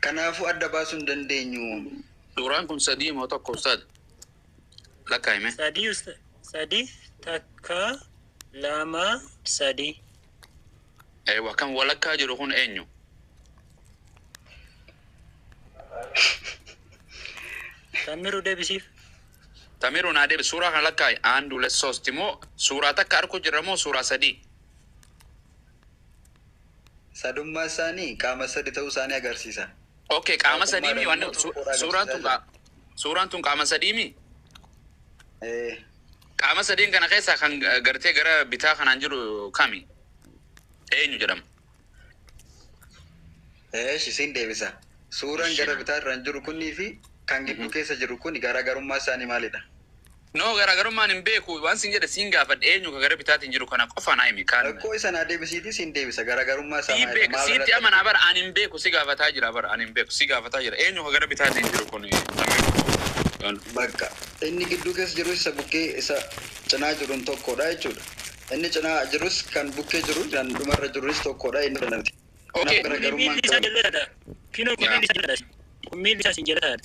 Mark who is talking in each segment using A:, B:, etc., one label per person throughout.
A: Kanaafuu adda baasuu hin dandeenyu. Suuraan kun sadii
B: moo tokko ustaaz? Lakkaa'e mee. Sadii usta
C: sadi takka lama sadi.
B: Eewa kan walakkaa jiru kun eenyu?
C: Tammiru debisiif. Tamiru
B: naa deebi suuraa kana lakkaa'i. Aandu le sosti moo suuraa takka arku jirra moo suuraa sadii?
A: Sadummaa isaanii qaama sadi ta'uu isaanii agarsiisa. Okay qaama Waaqummaa sadii
B: mi irratti wanni immoo su- tokkodha suuraan agarsiisaa tun jira. qaa- suuraan tun qaama sadii mi Ee, qaama sadiin kana keessaa kan eh, gartee gara bitaa kanaan jiru kami eenyu jedhama
A: Eesh isin deebisa. Suuraan Ishii gara dha. bitaa irraan jiru kunii fi kan gidduu Mhm. keessa jiru kun garaagarummaa isaanii maalidha? No
B: garaagarummaan hin beeku waan siin jedhe siin gaafadhe eenyu ka gara bitaatiin jiru kana qofa naa himi kaan. Rakkoo isa naa debisiitii
A: siin deebisa garaagarummaa isaa Sii maayidha beeka maal siitti irratti amanaa
B: argina. bara ani hin beeku si gaafataa jira bara ani hin beeku si gaafataa jira eenyu ka gara bitaatiin jiru kun kan.
A: Baqqa. Inni gidduu keessa jirus isa bukkee isa cinaa jirun tokko dha jechuu dha. Inni cinaa jirus kan bukkee jiru kan dhuma irra jirus tokko dha jennee fudhanna nuti. Ok Kanaaf Kuni garaagarummaa
B: miilli hin isaa qaban.
C: jallataadha. Kinoo kun miilli isaa jallataadha. Kun miilli isaa siin jallataadha.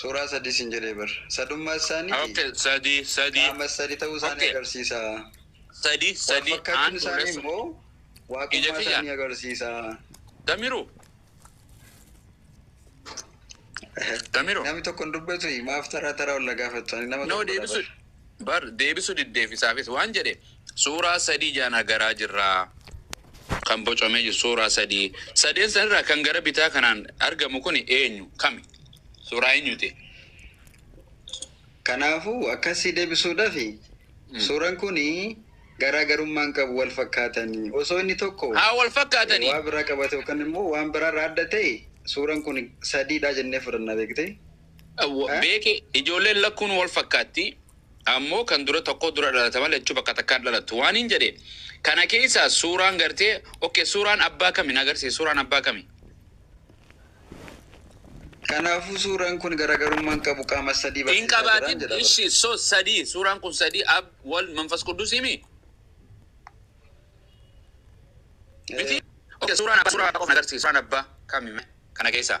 A: Suuraa sadii siin jedhee bar. Sadummaa isaanii fi Okay, sadi,
B: sadi, qaama sadii ta'uu
A: isaanii Okay. agarsiisa. sadi,
B: Wal sadi, fakkaachuun aan
A: isaanii fuulessa. immoo Ija waaqummaa kiyya. isaanii agarsiisa. Tamiru. Tamiru. Namni tokko hin dubbatu maaf taraa taraa ol na gaafattu ani nama Nama tokkodha deebisu, bar.
B: Bar deebisu diddeef isaafis waan jedhe suuraa sadii jaan agaraa jirraa kan bocamee jiru suuraa sadii sadeen san irraa kan gara bitaa kanaan argamu kuni eenyu kami suuraa eenyuti.
A: Kanaafu akkasi debisuudhafi suuran kuni garaa garummaa hin qabu wal fakkaatani osoo inni tokko Haa wal fakkaatani. waa
B: biraa qabate yookan
A: immoo waan biraa irraa adda ta'e suuran kuni sadiidha jennee fudhanna beekte. Beeki
B: ijoolleen lakkuun wal fakkaatti, ammoo kan dura tokkoo dura dhalata malee lachuu bakka takkaa hin dhalattu waaniin jedhe kana keessaa suuraan gartee ok suuraan abbaa kami na agarsiisi suuraan abbaa kami?
A: Kanaafuu suuraan kun garagarummaa hin qabu qaama sadii Hin barsiisaa jiraan qabaatin jedha bara.
B: ishi so sadii suuraan kun sadii ab wal manfas quddusii mi? Miti? Ok suuraan abbaa suuraa qofa na agarsiisi suuraan abbaa kami kana keessaa?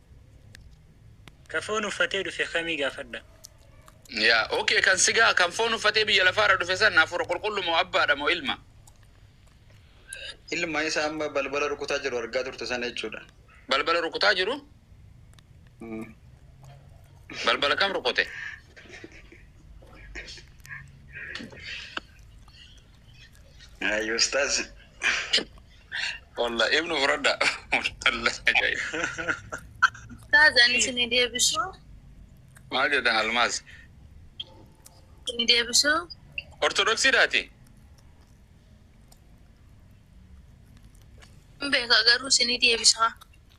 B: Ka foon
C: uffatee dhufe kamii gaafadha. Yaa,
B: okay kan sigaa kan foon uffatee biyya lafaarra dhufe san hafuura qulqullu moo abbaadha moo ilma?
A: Ilma isa amma balbala rukutaa jiru argaa turte sana jechuudha. Balbala rukutaa
B: jiru? Mm. Balbala kam rukute?
A: Ayi ustaz. Wallah
B: ibnu furadha. Wallah ajaa'iba.
D: Ustaz ani sini deebisu. Maal
B: jedhan almaas? Sini
D: deebisu. Ortodoksii
B: daati.
D: Beeka garuu sini deebisa.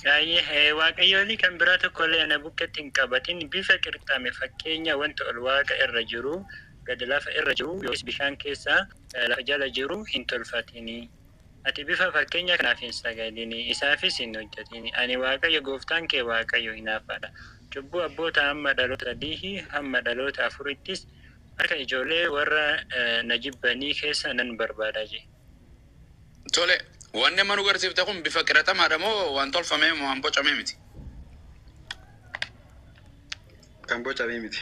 C: Saayee, Waaqayyoolii kan biraa tokko illee ana bukketti hin qabatin, bifa qirxame, fakkeenya wanta ol waaqa irra jiruu, gad lafa irra jiruu, yookiis bishaan keessa lafa jala jiruu hin tolfatini. Ati bifa fakkeenyaa kanaaf hin sagadini, isaafis hin hojjetini. Ani Waaqayyo gooftaan kee Waaqayyo hinaaffaa dha, cubbuu abbootaa hamma dhaloota sadiihii hamma dhaloota afurittis harka ijoollee warra na jibbanii keessa nan barbaada jedhe.
B: Tole, wanni amma nu garsiifte kun bifa qiratamaa-dha moo waan tolfamee moo waan bocamee miti?
A: Kan bocamee miti.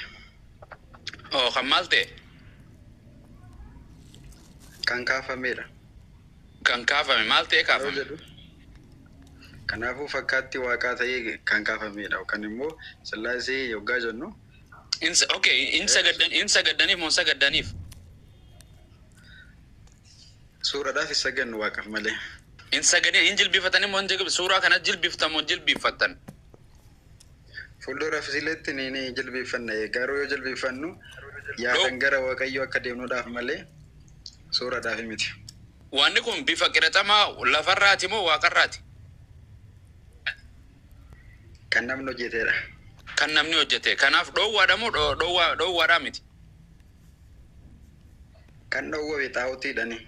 B: Hoo kan maal ta'e?
A: Kan kaafameedha. Kan
B: kaafame, maal ta'ee Yeroo kaafame? jedhu kanaafuu
A: fakkaatti waaqaa ta'ee kan kaafameedha yookaan immoo sillaasee yoggaa jennu In, okay,
B: in sagaddan, in sagaddaniif moo hin sagaddaaniif?
A: Suuradhaaf hin sagannu Waaqaf malee. Hin sagadin
B: hin jilbifatani mo hin suuraa kana jilbifta mo jilbifattan.
A: Fuulduraaf isileetti ni ni jilbifanna garuu yoo jilbifannu yaadan gara Waaqayyoo akka deemnudhaaf malee suuradhaaf miti. Waanni kun
B: bifa qiraxamaa lafarraati moo waaqarraati?
A: Kan namni hojjetedha. Kan namni
B: hojjete. Kanaaf dhoowwaadha moo dhoowwaadhaa miti?
A: Kan dhowwame xaa'otiidhani.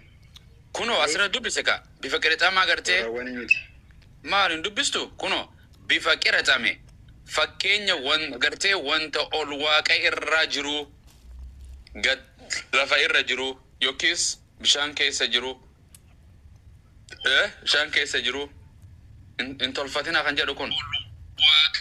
A: Kunoo as
B: irra dubbise kaa bifa qirixamaa agartee. Warrawwani miti. Maal hin dubbistu? Kunoo bifa qirixame fakkeenya wan gartee wanta ol waaqa irra jiruu gad lafa irra jiruu yokkiis bishaan keessa jiruu e bishaan keessa jiruu hin hin tolfatinaa kan jedhu kun. Ol waaqa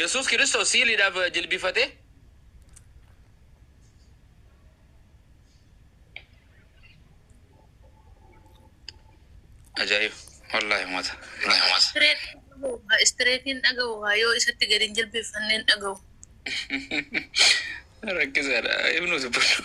B: Yesuus Kiristoos siiliidhaaf jilbifate. Ajaa'iba! Wallaahi uummata. Wallaahi uummata. Istireet dhaga'uudha.
D: Istireetiin dhaga'uudha. Yoo isatti gadi hin jilbeeffanne hin dhaga'u. Rakkisaadha. Ibnu dubbadhu.